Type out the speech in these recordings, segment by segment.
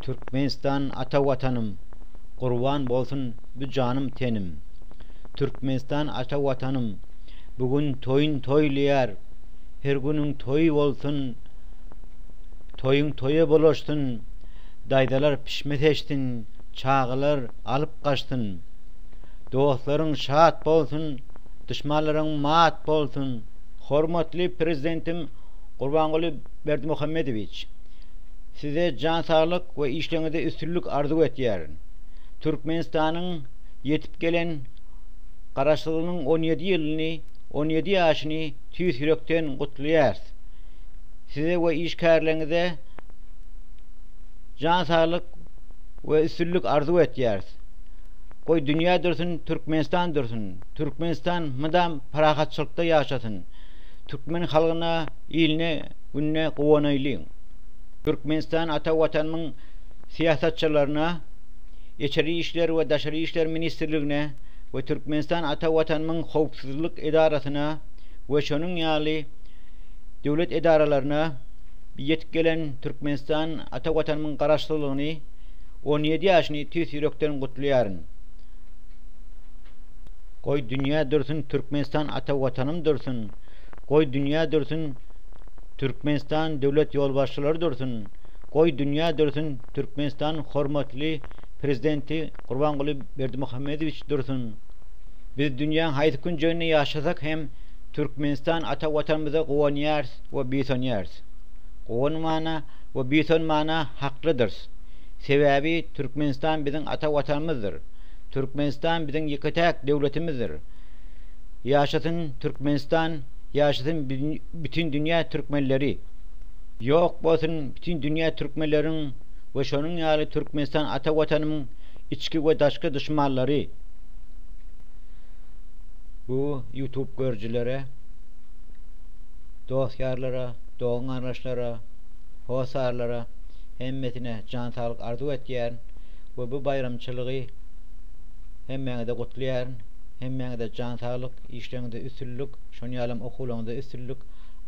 Türkmenistan ata watanym Gurban bolsun bu janym tenim Türkmenistan ata watanym Bu gün toýun toýlaýar Her günüň toýy bolsun Toýuň toýa bulaşsyn Daýzalar pişme seçsin Çagalar alyp gaçsyn Dostlaryň şat bolsun Duşmanlaryň mat bolsun. Hormatly Prezidentim Gurbanguly Berdimuhamedowiç! Size jan saglyk we işleňizde üstünlik arzuw etýärin. Türkmenistanyň ýetip gelen Garaşsyzlygynyň on ýedi ýylyny, on ýedi ýaşyny tüýs ýürekden gutlaýarys. Size we işgärleriňize jan saglyk we üstünlik arzuw etýäris. Goý dünýä dursun Türkmenistan dursun, Türkmenistan mydam parahatçylykda ýaşasyn. Türkmen halgyna, iline. gününe guwanaýlyň! Türkmenistan ata Watanymyň syýasatçylaryna, Içeri işler we daşary işler ministrligine we Türkmenistan ata Watanymyň howpsuzlyk edarasyna we şonuň ýaly döwlet edaralaryna ýetip gelen Türkmenistan ata Watanymyň Garaşsyzlygyny on ýedi ýaşyny tüýs ýürekden gutlaýaryn! Goý dünýä dursun Türkmenistan ata Watanym dursun! Goý dünýä dursun Türkmenistan döwlet ýolbaşçylary dursun, goý dünýä dursun Türkmenistanyň hormatly Prezidenti Gurbanguly Berdimuhamedowiç dursun. Biz dünýäň haýsy künjeginde ýaşasak hem Türkmenistan ata Watanymyza guwanýarys we buýsanýarys. Guwanmana we buýsanmana haklydyrys. Sebäbi Türkmenistan biziň ata Watanymyzdyr. Türkmenistan biziň ýeke-täk döwletimizdir. Ýaşasyn Türkmenistan ýaşasyn bütin dünýä Türkmenleri ýok bolsun bütin dünýä Türkmenleriň we şonuň ýaly Türkmenistan ata watanymyň içki we daşky duşmanlary bu ýutub görjilere dost ýarlara dogan garyndaşlara hossarlara hemmesine jan saglyk arzuw etýärin we bu baýramçylygy hemmäňize gutlaýaryn. Hemmäňize jan saglyk, işleriňizde üstünlik, şony ýalam okuwlaryňyzda üstünlik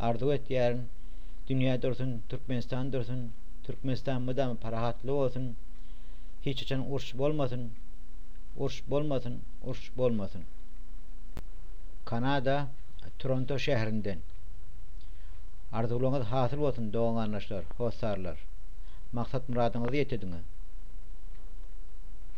arzuw etýärin. Dünýä dursun, Türkmenistan dursun, Türkmenistan mydama parahatly bolsun, hiç haçan uruş bolmasyn, uruş bolmasyn, uruş bolmasyn. Kanada, Toronto şäherinden. Arzuwlaryňyz hasyl bolsun dogan-garyndaşlar, hossarlar. Maksat-myradyňyzy ýetediňiz.